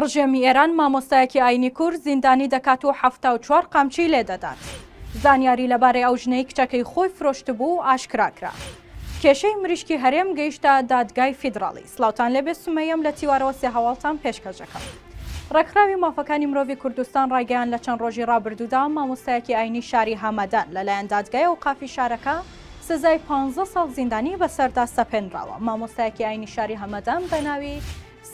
ڕژێمی ئێران مامۆستایەکی ئاینی کورد زیندانی دەکات و حەفتا و چوار قامچی لێ دەدات. زانیاری لەبارەی ئەو ژنەی کچەکەی خۆی فرۆشتبوو ئاشکرا کرا. کێشەی مریشکی هەرێم گەیشتە دادگای فیدراڵی. سڵاوتان لێبێ سومەیەم لە تیوارەوە سێ هەواڵتان پێشکەش دەکەم. ڕێکخراوی مافەکانی مرۆڤی کوردستان ڕایگەیاند لە چەند ڕۆژی ڕابردوودا مامۆستایەکی ئاینی شاری هەمەدان لەلایەن دادگای ئەوقافی شارەکە سزای پانزە ساڵ زیندانی بەسەردا سەپێنراوە. مامۆستایەکی ئاینی شاری هەمەدان بەناوی،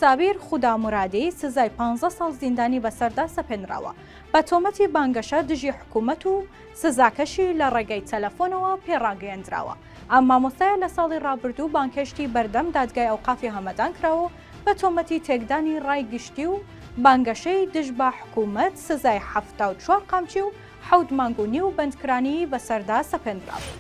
سابیر خودامورادی سزای پانزە ساڵ زیندانی بەسەردا سەپێنراوە بە تۆمەتی بانگەشە دژی حکوومەت و سزاکەشی لە ڕێگەی تەلەفۆنەوە پێ ڕاگەیەندراوە. ئەم مامۆستایە لە ساڵی ڕابردوو بانگهێشتی بەردەم دادگای ئەوقافی هەمەدان کرا و بە تۆمەتی تێکدانی ڕای گشتی و بانگەشەی دژ بە حکوومەت سزای حەفتا و چوار قامچی و حەوت مانگ و نیو بەندکرانی بەسەردا سەپێندرابوو.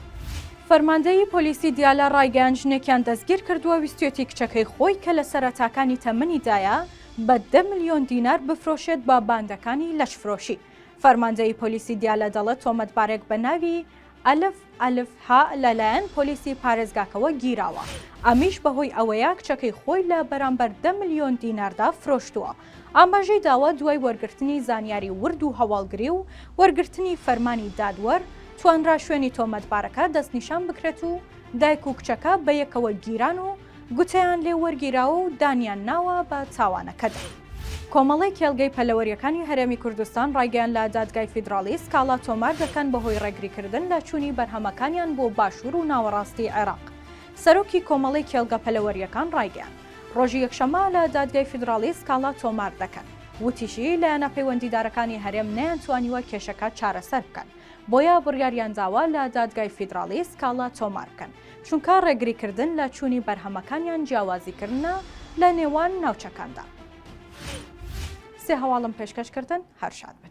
فەرماندەیی پۆلیسی دیالە ڕایگەیاند ژنێکیان دەستگیرکردووە ویستویەتی کچەکەی خۆی کە لە سەرەتاکانی تەمەنیدایە بە دە ملیۆن دینار بفرۆشێت بە باندەکانی لەشفرۆشی. فەرماندەیی پۆلیسی دیالە دەڵێت تۆمەتبارێک بە ناوی، ئەلف ئەلف هە لەلایەن پۆلیسی پارێزگاکەوە گیراوە، ئەمیش بەهۆی ئەوەیە کچەکەی خۆی لە بەرامبەر دە ملیۆن دیناردا فرۆشتووە. ئاماژەی داوە دوای وەرگرتنی زانیاری ورد و هەواڵگری و وەرگرتنی فەرمانی دادوەر، توانرا شوێنی تۆمەتبارەکە دەستنیشان بکرێت و دایک و کچەکە بەیەکەوە گیران و گوتەیان لێ وەرگیراوە و دانیان ناوە بە تاوانەکەدا. کۆمەڵەی کێڵگەی پەلەوەرییەکانی هەرێمی کوردستان ڕایگەیاند لە دادگای فیدراڵی سکاڵا تۆمار دەکەن بەهۆی ڕێگریکردن لە چوونی بەرهەمەکانیان بۆ باشوور و ناوەڕاستی عێراق. سەرۆکی کۆمەڵەی کێڵگە پەلەوەرییەکان ڕایگەیاند ڕۆژی یەکشەممە لە دادگای فیدراڵی سکاڵا تۆمار دەکەن. وتیشی، لایەنە پەیوەندیدارەکانی هەرێم نەیانتوانیوە کێشەکە چارەسەر بکەن، بۆیە بڕیاریانداوە لە دادگای فیدراڵی سکاڵا تۆمار بکەن. چونکە ڕێگریکردن لە چوونی بەرهەمەکان یان جیاوازیکردنە لە نێوان ناوچەکاندا. سێ هەواڵم پێشکەش کردن هەر شاد بن.